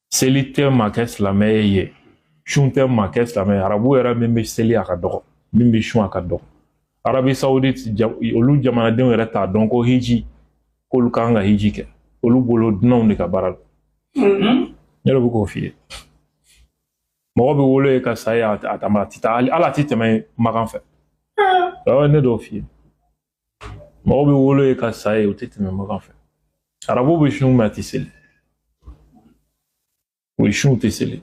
Seli tɛ maa kɛ silamɛ ye sun tɛ maa kɛ silamɛ ye arabu yɛrɛ min bɛ seli a ka dɔgɔ min bɛ sun a ka dɔgɔ arabie saoudite olu jamanadenw yɛrɛ t'a dɔn ko hiji k'olu kan ka hiji kɛ olu bolo dunanw de ka baara don mm-hmm. ne yɛrɛ bɛ k'o f'i ye mɔgɔ bɛ wolo yen ka sa yen a tɛ taa hali a tɛ tɛmɛ makan fɛ ah. ne dɔw f'i ye mɔgɔ bɛ wolo yen ka sa yen o tɛ tɛmɛ makan fɛ arabu bɛ sun mais a tɛ seli o sun tɛ seli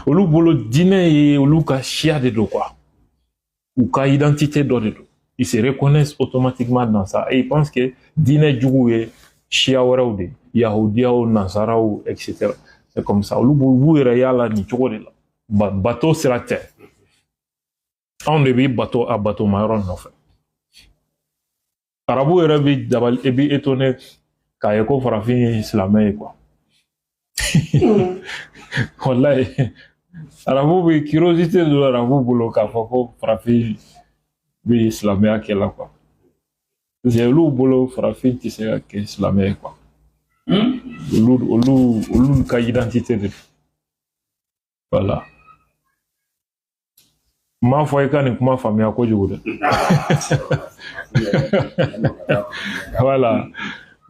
olu bolo diinɛ ye olu ka siya de don quoi u ka identité dɔ de don ils se reconnaissent automatiquement dans ça et ils pensent que diinɛ jugu ye siya wɛrɛw de yahudiyaw nasaraw etc c'est comme ça olu b'u yɛrɛ y'a la nin cogo de la bato sira tɛ anw de bi bato a batoma yɔrɔ nɔfɛ arabu yɛrɛ bi dabali e bi étonné k'a ye ko farafin ye silamɛ ye quoi walayi arabu bi curiosité don arabu bolo k'a fɔ ko farafin bi silamɛya kɛla quoi parce que olu bolo farafin tɛ se ka kɛ silamɛ ye quoi olu olu olu ka identité de don voilà n m'a fɔ i ka nin kuma faamuya kojugu dɛ voilà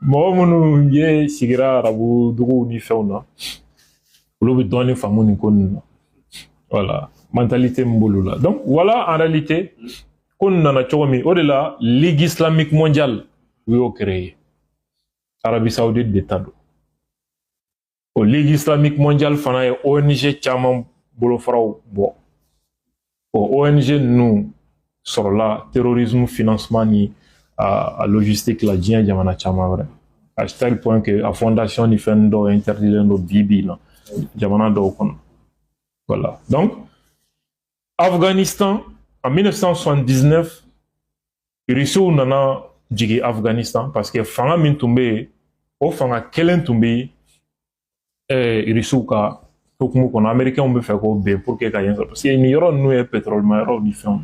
mɔgɔ minnu ye sigira arabu duguw ni fɛnw na olu bɛ dɔɔnin faamu nin ko ninnu na voilà mentalité min b'olu la donc voilà en réalité ko nin nana cogo min o de la ligue islamique mondiale u y'o créer arabie saoudite de ta don o ligue islamique mondiale fana ye ong caman bolofaraw bɔ o ong ninnu sɔrɔla terrorisme financement ni a, a logistique la diɲɛ jamana caman wɛrɛ à tel point que a fondation ni fɛn dɔw interdilen don bi bi in na jamana dɔw kɔnɔ voilà donc Afghanistan, en 1979, Russiw nana jigin Afghanistan parce que fanga min tun bɛ yen o fanga kelen tun bɛ eh, Russiw ka hukumu kɔnɔ Américains bɛ fɛ k'o ben pour que ka yen sɔrɔ parce que nin yɔrɔ ninnu ye pétrolema yɔrɔw ni fɛnw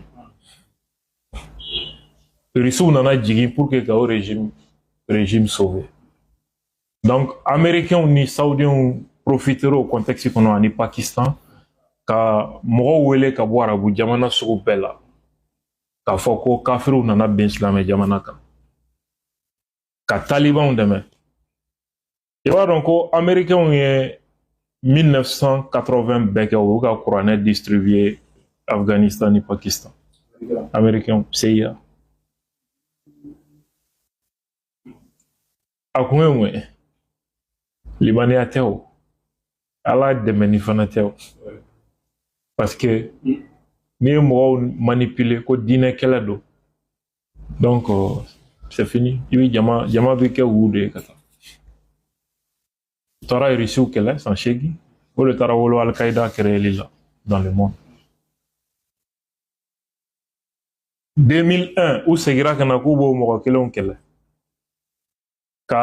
ye Russiw nana jigin pour que ka o régime régime sauver donc américains ni saoudiens profitera o contexte kɔnɔ ani pakistan ka mɔgɔw wele ka bɔ arabu jamana sugu bɛɛ la k'a fɔ ko kafiriw nana ben silamɛ jamana kan ka talibanw dɛmɛ i b'a dɔn ko américains ye 1980 bɛɛ kɛ u y'u ka kuranɛ distribuer afghanistan ni pakistan américains cia a kun ye mun ye limaniya tɛ o ala dɛmɛni fana tɛ o parce que n'i ye mɔgɔw manipuler ko diinɛ kɛlɛ don donc c'est fini i bɛ jama jama bɛ kɛ wu de ye ka taa u taara irisiw kɛlɛ san seegin o de taara wolo alikaida créeli la dans le monde 2001 u segira ka na k'u b'o mɔgɔ kelenw kɛlɛ ka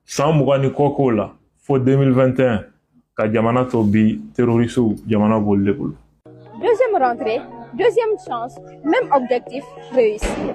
san mugan ni kɔ k'o la fo 2021 ka jamana to bi terorisiw jamana b'olu de bolo deuxième rentrée deuxième chance même objectif réussir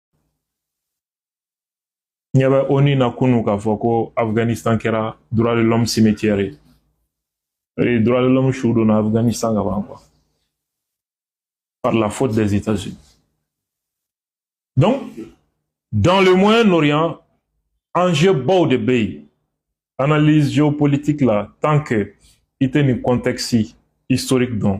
ɲɛ bɛ onu na kunu k'a fɔ ko afghanistan kɛra droit de l'homme cimetière ye ee droit de l'homme su donna afghanistan ka ban quoi par la faute des états-unis donc dans le moyen orient enjeu baw de bɛ yen analyse géopolitique la tant que i tɛ nin contexte historique dɔn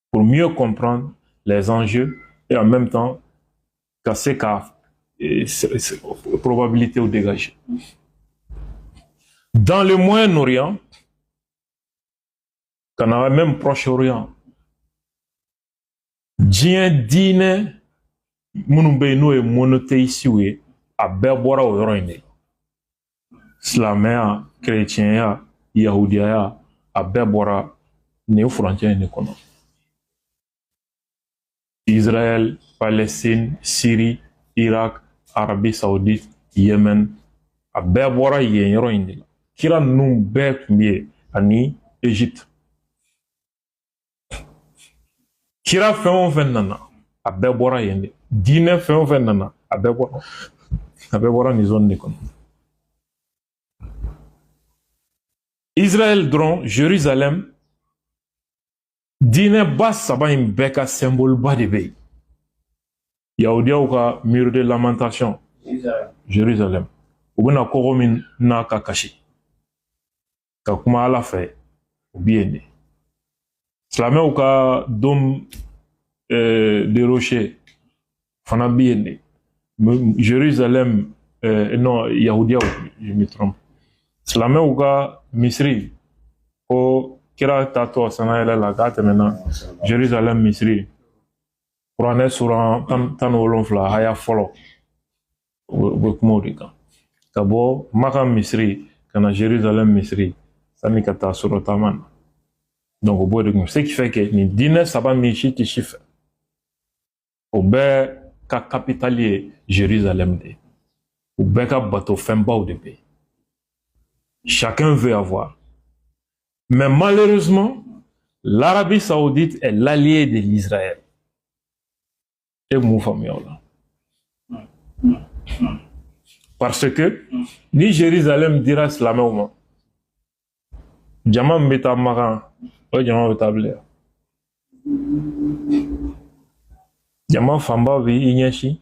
pour mieux comprendre les enjeux et en même temps ka se ka probabilitéw dégager. Dans le Moyen-Orient, ka na même Proche-Orient, diɲɛ diinɛ minnu bɛ yen n'o ye monothéistew ye a bɛɛ bɔra o yɔrɔ in de la silamɛya kerecɛnya yahudiyaya a bɛɛ bɔra nin furancɛ in de kɔnɔ israël palestine syrie irak arabie saoudite yémen a bɛɛ bɔra yen yɔrɔ in de la kira ninnu bɛɛ tun bɛ yen ani egypte kira fɛn o fɛn nana a bɛɛ bɔra yen de diinɛ fɛn o fɛn nana a bɛɛ bɔra a bɛɛ bɔra nin zone de kɔnɔ israël dɔrɔn jerusalem diinɛba saba in bɛɛ ka symboleba de bɛ yen yahudiyaw ka mur de lamentation jerusalem u bɛ na kogo min na ka kasi ka kuma ala fɛ o bi yen de silamɛw ka dôme de rocher fana bi yen de jerusalem non yahudiyaw je me trompe silamɛw ka misiri ko kira taatɔ sannayɛlɛ la k'a tɛmɛna jerusalem misiri kuranɛ suran tan ni wolonfila haya fɔlɔ u bɛ kuma o de kan ka bɔ maka misiri ka na jerusalem misiri sanni ka taa sura taama na donc o b'o de kun ce qui fait que nin diinɛ saba min si tɛ si fɛ o bɛɛ ka kapitali ye jerusalem de ye u bɛɛ ka bato fɛnbaw de bɛ yen chacun veut avoir mais malheureusement l'arabie saoudite est l'allié de l'israël e mun faamuya o la parce que ni Jérusalem dira silamɛw ma jama min bɛ taa Makan o jama bɛ taa bila yan jama fanba bɛ i ɲɛsin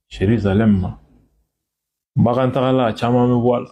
Jérusalem ma Makan tagala a caman bɛ bɔ a la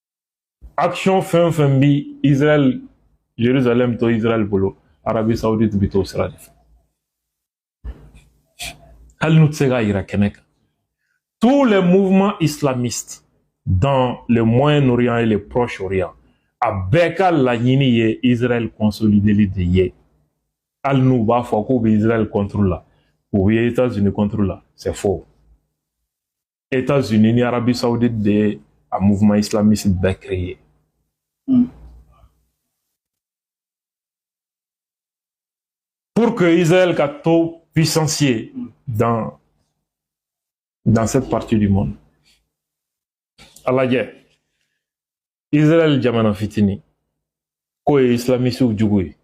action fɛn o fɛn bi israel jerusalem to israel bolo arabi saudite bi t'o sira de fɛ hali n'u tɛ se k'a yira kɛnɛ kan tous les mouvements islamistes dans le moyen-orient et le proche-orient a bɛɛ ka laɲini ye israel consolideli de ye hali n'u b'a fɔ k'u bɛ israel contre la u bɛ états unis contre la c'est faux États-Unis ni Arabie Saoudite de ye a mouvement islamiste bɛɛ créer. Mm. Pour que Israël ka to puissance ye mm. dans dans cette partie du monde. A lajɛ Israël jamana fitini k'o ye islamisiw jugu ye.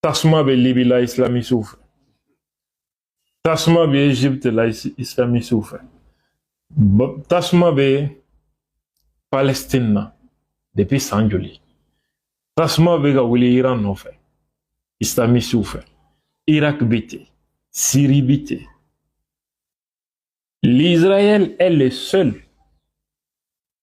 Tasuma bɛ Libi la islamisiw fɛ. Tasuma bɛ Egypte la islamisiw fɛ tasuma bɛ Palestine na depuis san joli tasuma bɛ ka wuli Iran nɔfɛ islamisiw fɛ Irak bɛ ten Syrie bɛ ten l'Israël est le seul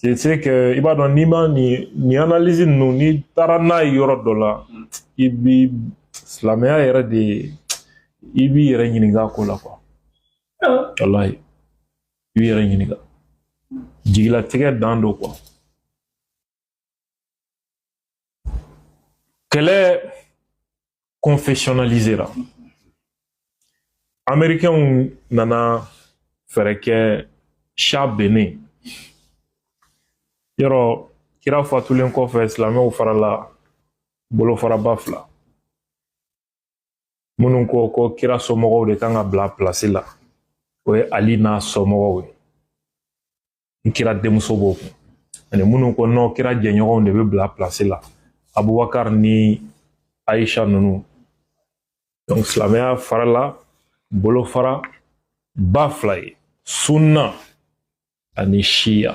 c'est c'est que i b'a dɔn n'i ma nin nin analyse ninnu n'i taara n'a ye yɔrɔ dɔ la mm. i bi silamɛya yɛrɛ de i b'i yɛrɛ ɲininka ko la quoi walahi i b'i yɛrɛ ɲininka jigilatigɛ dan don quoi kɛlɛ confessionnalisera américains nana fɛɛrɛ kɛ shah binnen yɔrɔ kira fatulen kɔfɛ silamɛw farala bolofaraba fila minnu ko ko kira somɔgɔw de kan ka bila pilasi la o ye ali n'a somɔgɔw ye n kira denmuso b'o kun ani minnu ko non kira jɛɲɔgɔnw de bɛ bila pilasi la abubakar ni aisha ninnu donc silamɛya farala bolofara ba fila ye sunna ani siya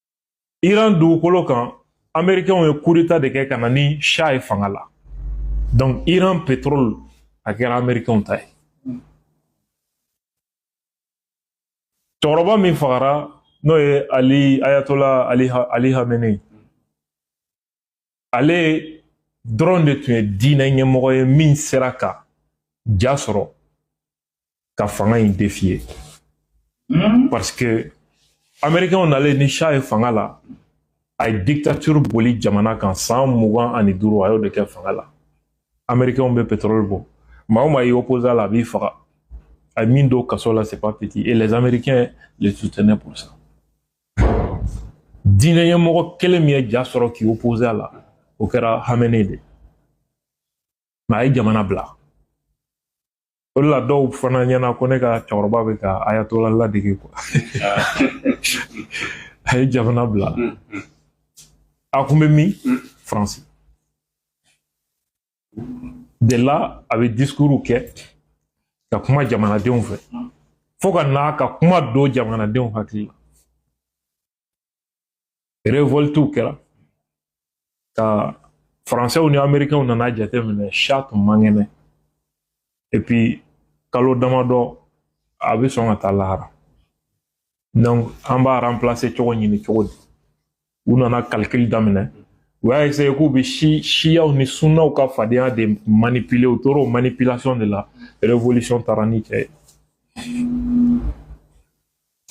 iran dugukolo kan amerikɛnw ye kudeta de kɛ ka na ni sha ye fanga la donc iran pétrole a kɛra amerikɛnw ta ye cɛkɔrɔba min fagara n'o ye ali ayatola ali hamenei ale dɔrɔn de tun ye diinɛ ɲɛmɔgɔ ye min sera ka ja sɔrɔ ka fanga in defiye hmm? parce que amerikɛnw nalen ni sha ye fanga la a ye dictature boli jamana kan san mugan ani duuru a y'o de kɛ fanga la amerikɛnw bɛ pétrole bɔ maa o maa y'i opposé a la a b'i faga a ye min don kaso la c'est pas petit et les américains le soutenaient pour ça diinɛ ɲɛmɔgɔ kelen min ye ja sɔrɔ k'i opposé a la o kɛra hamɛne de mais a ye jamana bila o de la dɔw fana ɲɛna ko ne ka cɛkɔrɔba bɛ ka ayatola ladege quoi a ye jamana bila a kun bɛ min faransi de là a bɛ discoursw kɛ ka kuma jamanadenw fɛ fo ka n'a ka kuma don jamanadenw hakili la révoltew kɛra ka faransɛw ni amerikɛnw nana jateminɛ sha tun man kɛnɛ et puis kalo damadɔ a bɛ sɔn ka taa lahara an b'a remplacer cogo ɲini cogo di u nana calcul daminɛ u y'a essayer k'u bɛ si siyaw ni sunnaw ka fadenya de manipuler u tora o manipulation de la révolution taara ni cɛ ye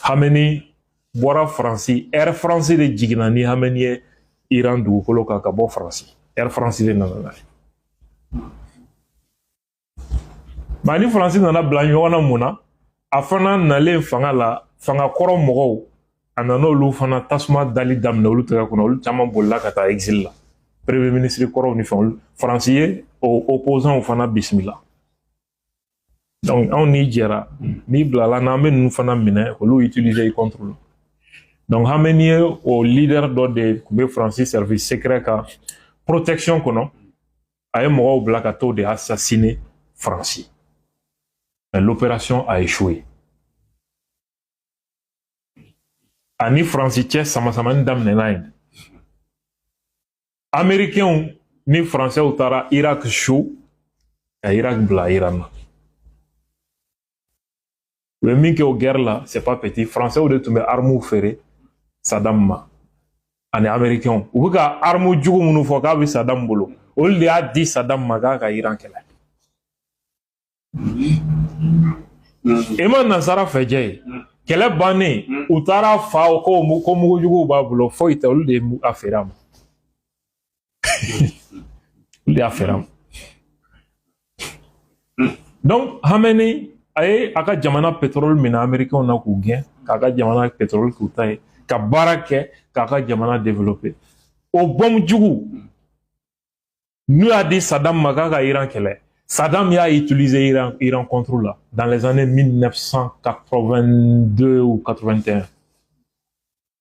hamɛni bɔra faransi air france de jiginna ni hamɛni ye iran dugukolo kan ka bɔ faransi air france de nana n'a ye Mais a ni faransi nana bila ɲɔgɔn na mun na a fana nalen fanga la fanga kɔrɔ mɔgɔw a nana olu fana tasuma dali daminɛ olu tɛgɛ kɔnɔ olu caman bolila ka taa exil la premier ministre kɔrɔw ni fɛnw faransi ye o opposants fana bisimila donc anw n'i jɛra n'i bilala n'an bɛ ninnu fana minɛ olu utiliser i contre la donc hamɛni ye o leader dɔ de tun bɛ faransi service secret ka protection kɔnɔ a ye mɔgɔw bila ka t'o de assassiner faransi mais l'opération a échoué a ni faransi cɛ samasamani daminɛna yen amerikɛnw ni faransɛw taara irak su ka irak bila iran na u ye min kɛ o guerre la c'est pas petit français de tun bɛ armuw feere sadam ma ani américains u bɛ ka armu jugu minnu fɔ k'a bɛ sadam bolo olu de y'a di sadam ma k'a ka iran kɛlɛ i ma nasara fɛ jɛ ye kɛlɛ bannen u taara a fa ko ko mugujuguw b'a bolo foyi tɛ olu de ye a feere a ma olu y'a feere a ma donc hamɛni a ye a ka jamana pɛtɔrɔli minɛ amerikɛnw na k'u gɛn k'a ka jamana pɛtɔrɔli k'u ta ye ka baara kɛ k'a ka jamana développer o bɔmu jugu n'u y'a di sadam ma k'a ka iran kɛlɛ sadam y'a utiliser iran contre la dans les années 1982 ou 81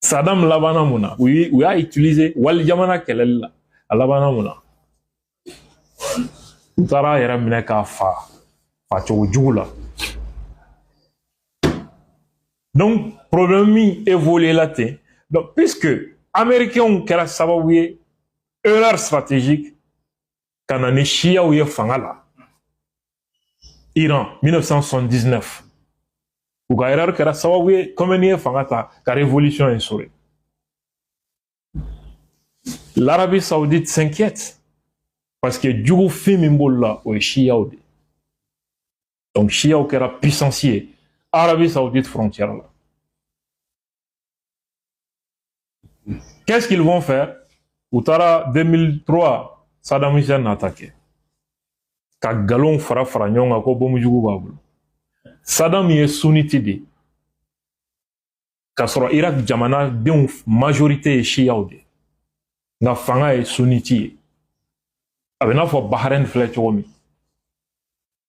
Saddam labanna mun na u y'a utiliser wali jamana kɛlɛli la a labanna mun na u taara a yɛrɛ minɛ k'a fa fa cogo jugu la donc problème min évoluer la ten donc puisque américains kɛra sababu ye erreur stratégique ka na ni siyaw ye fanga la iran 1979 u ka erreur kɛra sababu ye komɛni ye fanga ta ka révolution instaurer l'Arabie saoudite s'inquiète parce que jugu fin min b'olu la o ye siyaw de donc siyaw kɛra puissance ye arabie saoudite frontière la Qu'est-ce qu'ils vont faire U taara 2003 Saddam Hussein attaqué ka nkalonw fara fara ɲɔgɔn kan ko bomu jugu b'a bolo Saddam ye sunniti de k'a sɔrɔ Irak jamanadenw majorité ye siyaw de nka fanga ye sunniti ye a bɛ n'a fɔ Bahrain filɛ cogo min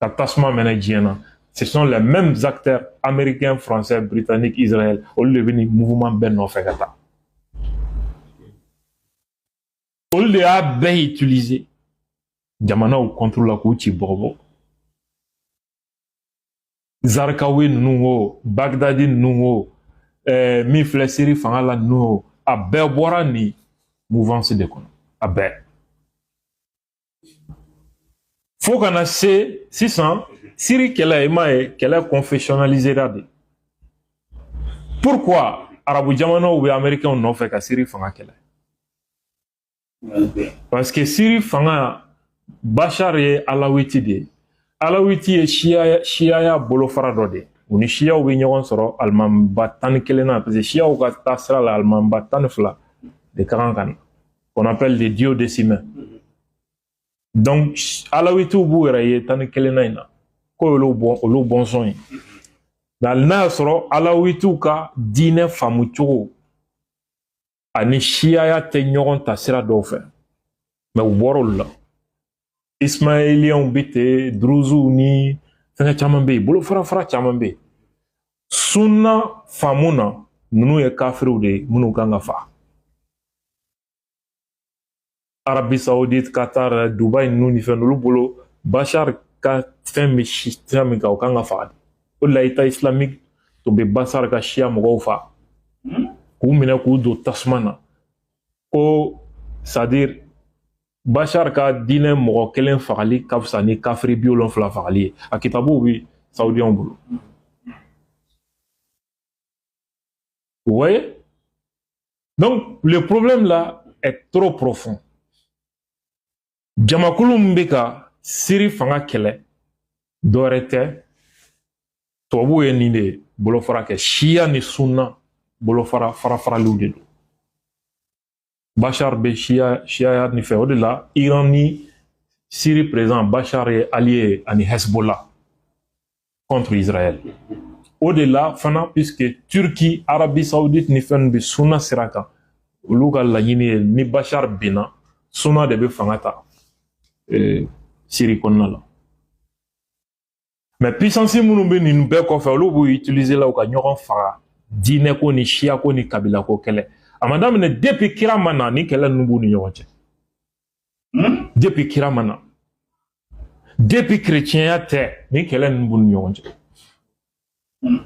ka tasuma mɛnɛ diɲɛ na ce sont les mêmes acteurs américains français britanniques israël olu de bɛ nin mouvement bɛɛ nɔfɛ ka taa olu de y'a bɛɛ utiliser jamanaw contre la k'u ci bɔgɔbɔ zarikawi ninnu o bagdadi ninnu o ɛɛ min filɛ siri fanga la ninnu o a bɛɛ bɔra nin mouvance de kɔnɔ a bɛɛ fo ka na se sisan siri kɛlɛ i m'a ye kɛlɛ confessionnalisera de pourquoi arabu jamanaw bɛ américains nɔfɛ ka siri fanga kɛlɛ parce que siri fanga bashar ye alawiti de alawiti ye siyaya bolofara dɔ de u ni siyaw bɛ ɲɔgɔn sɔrɔ alimanba tan ni kelen na parce que siyaw ka taa sira la alimanba tan ni fila de ka kan ka na qu'on appelle des duodécimains. Donc, alawitiw b'u yɛrɛ ye tan ni kelennan in na k'o y'olu bɔn olu bɔnsɔn ye hali n'a y'a sɔrɔ alawitiw ka diinɛ faamu cogo ani siyaya tɛ ɲɔgɔn ta sira dɔw fɛ mais u bɔra olu la ismailiyanw bɛ ten duruzuw ni fɛngɛ caman bɛ yen bolofara fara caman bɛ yen sunna faamu na ninnu ye kafiriw de ye minnu kan ka faga Arabie Saoudite qatar dubai ninnu ni fɛn olu bolo bashar ka fɛn bɛ si sira min kan o kan ka faga de o de la État islamique tun bɛ bashar ka siya mɔgɔw faga k'u minɛ k'u don tasuma na ko c'est à dire bashar ka diinɛ mɔgɔ kelen fagali ka fisa ni kafiri bi wolonfila fagali ye a kitabuw bɛ saudiyanw bolo voyez donc le problème là est trop profond jamakulu min bɛ ka Syrie fanga kɛlɛ dɔwɛrɛ tɛ tubabuw ye nin de bolofara kɛ siya ni sunna bolofara farafaraliw de don Bashar bɛ siya siyaya nin fɛ o de la Iran ni Syrie président Bashar ye allié ani Hezbollah contre Israël o de la fana puisque Turquie Arabie Saoudite ni fɛn bɛ sunna sira kan olu ka laɲini ye ni Bashar binna sunna de bɛ fanga ta Syrie kɔnɔna la mais puissances minnu bɛ nin bɛɛ kɔfɛ olu b'u utiliser la u ka ɲɔgɔn faga diinɛko ni siyako ni kabilako kɛlɛ a ma daminɛ depuis kira ma na ni kɛlɛ ninnu b'u ni ɲɔgɔn cɛ hmm? depuis kira ma na depuis kerecɛnya tɛ ni kɛlɛ ninnu b'u ni ɲɔgɔn cɛ hmm.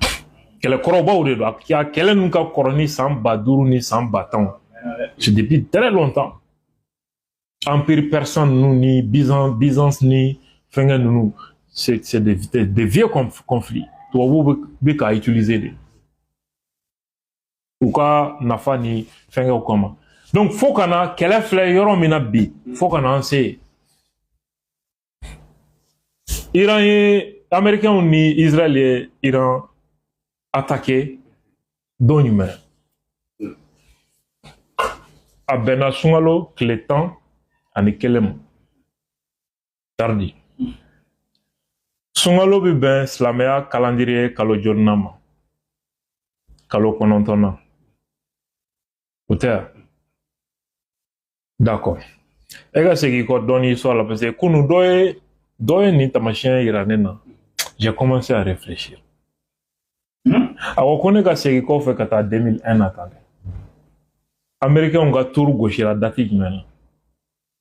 kɛlɛ kɔrɔbaw de don a kɛlɛ ninnu ka kɔrɔ ni san ba duuru ni san ba tanw c'est depuis très longtemps empire persan ninnu ni Byzan Byzance ni fɛngɛ ninnu c'est c'est des des, des vieux conflits tubabuw bɛ bɛ k'a utiliser de u ka nafa ni fɛngɛw kama donc fo ka na kɛlɛ filɛ yɔrɔ min na bi fo ka na an se yen Iran ye Américains ni Israël ye Iran attaqué don jumɛn a bɛnna sunkalo tile tan ani kelen ma tardi sunkalo bɛ bɛn silamɛya kalandiriye kalo jolinan ma kalo kɔnɔntɔnnan o tɛ yan d'accord e ka segin kɔ dɔɔni histoire la parce que kunu dɔ ye dɔ ye nin taamasiyɛn yira ne na j'ai commencé à réfléchir hmm? a ko ko ne ka segin kɔfɛ ka taa 2001 na tan dɛ américainw ka tour gosira date jumɛn na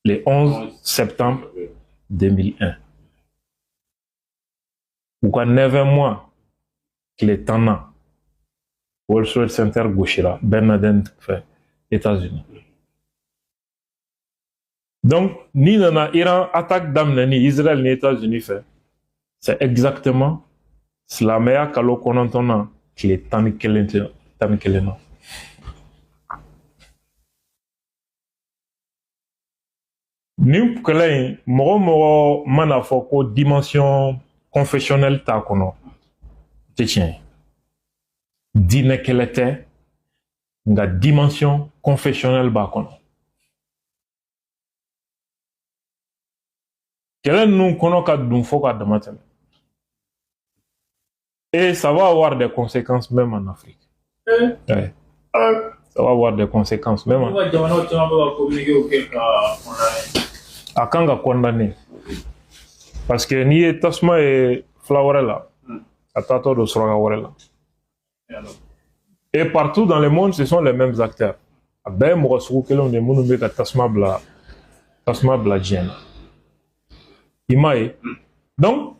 le 11 septembre 2001 u ka neuf mois tile tan na world trade center gosira ben laden fɛ etats unis donc n'i nana iran attaque daminɛ ni israel ni etats unis fɛ c'est exactement silamɛya kalo kɔnɔntɔn na tile tan ni kelen na nin kɛlɛ in mɔgɔ o mɔgɔ man'a fɔ ko dimension confessionnelle t'a kɔnɔ tɛ tiɲɛ ye diinɛ kɛlɛ tɛ nka dimension confessionnelle b'a kɔnɔ kɛlɛ ninnu kɔnɔ ka dun fo ka dama tɛmɛ Et ça va avoir des conséquences même en Afrique. Hein? Ouais. Hein? Ça va avoir des conséquences même. En... À quand on condamné Parce que ni est tasma et flower là, hmm. à tato de srogaware là. Et partout dans le monde, ce sont les mêmes acteurs. A bɛɛ mɔgɔ sugu kelenw de minnu bɛ ka tasuma bila tasuma bila diɲɛ na i m'a ye hmm. donc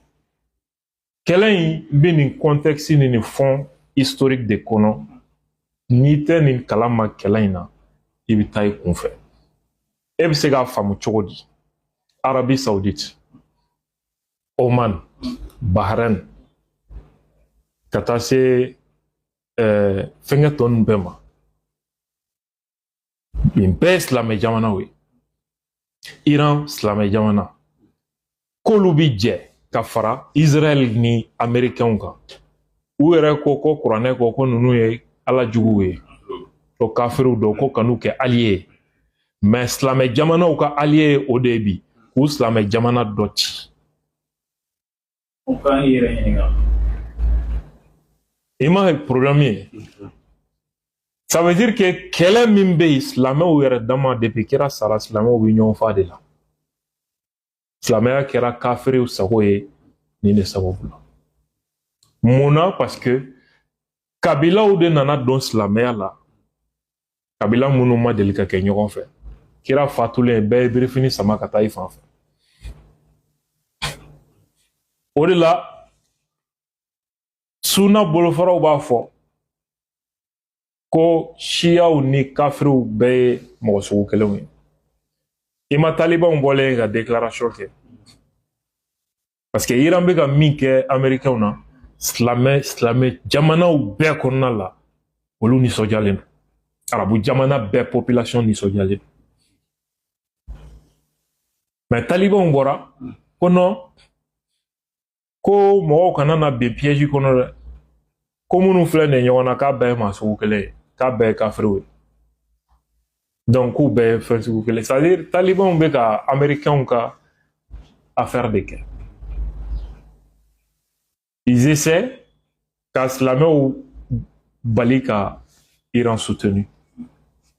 kɛlɛ in bɛ nin contexte ni nin fond historique de kɔnɔ n'i tɛ nin kala ma kɛlɛ in na i bɛ taa i kunfɛ e bɛ se k'a faamu cogo di arabie saoudite oman bahrain ka taa se ɛɛ fɛnkɛ tɔ ninnu bɛɛ ma nin bɛɛ ye silamɛ jamanaw ye iran silamɛ jamana k'olu bi jɛ ka fara israɛl ni amerikɛnw kan u yɛrɛ ko ko kuranɛ ko ko ninnu ye ala juguw ye ko kafiriw don ko kan'u kɛ alliés ye mais silamɛ jamanaw ka alliés ye o de ye bi k'u silamɛ jamana dɔ ci U ka i yɛrɛ ɲininka i m'a ye problème ye ça veut dire que kɛlɛ min bɛ yen silamɛw yɛrɛ dama depuis kira sara silamɛw bɛ ɲɔgɔn fa de la silamɛya kɛra kafiriw sago ye nin de sababu la mun na parce que kabilaw de nana don silamɛya la kabila minnu ma deli ka kɛ ɲɔgɔn fɛ kira fatulen bɛɛ ye birifini sama ka taa i fan fɛ o de la suna bolofaraw b'a fɔ ko siyaw ni kafiriw bɛɛ ye mɔgɔ sugu kelenw ye i ma talibanw bɔlen ye ka déclaration kɛ Parce que Iran bɛ ka min kɛ Amerikɛnw na silamɛ silamɛ jamanaw bɛɛ kɔnɔna la olu nisɔndiyalen don arabu jamana bɛɛ population nisɔndiyalen don mais talibanw bɔra ko non ko mɔgɔw kana na bin piège kɔnɔ dɛ ko minnu filɛ nin ye ɲɔgɔn na k'a bɛɛ ye maa sugu kelen ye k'a bɛɛ ye kafiriw ye donc k'u bɛɛ ye fɛn sugu kelen c'est à dire talibanw bɛ ka américainw ka affaire de kɛ ils essaient ka silamɛw bali ka iran soutenu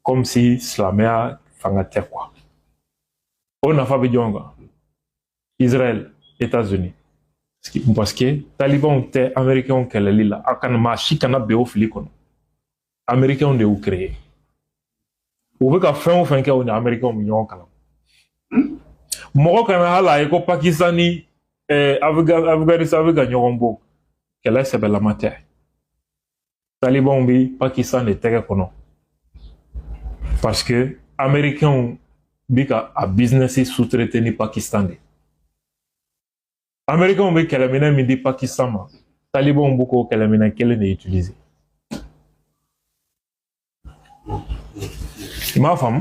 comme si silamɛya fanga tɛ quoi o nafa bɛ jɔn kan Israël États-Unis parce que talibanw tɛ américains kɛlɛli la a kana maa si kana bin o fili kɔnɔ américains de y'u créer u bɛ ka fɛn o fɛn kɛ u ni américains bɛ ɲɔgɔn kalama mɔgɔ kana hali a ye ko pakistan ni afganistan bɛ ka ɲɔgɔn bon kɛlɛ sɛbɛlama tɛ talibanw bɛ pakistan de tɛgɛ kɔnɔ parce que américains bɛ ka a business sous-traiter ni pakistan de américains bɛ kɛlɛminɛn min di pakistan ma talibanw bɛ k'o kɛlɛminɛn kelen de utiliser i m'a faamu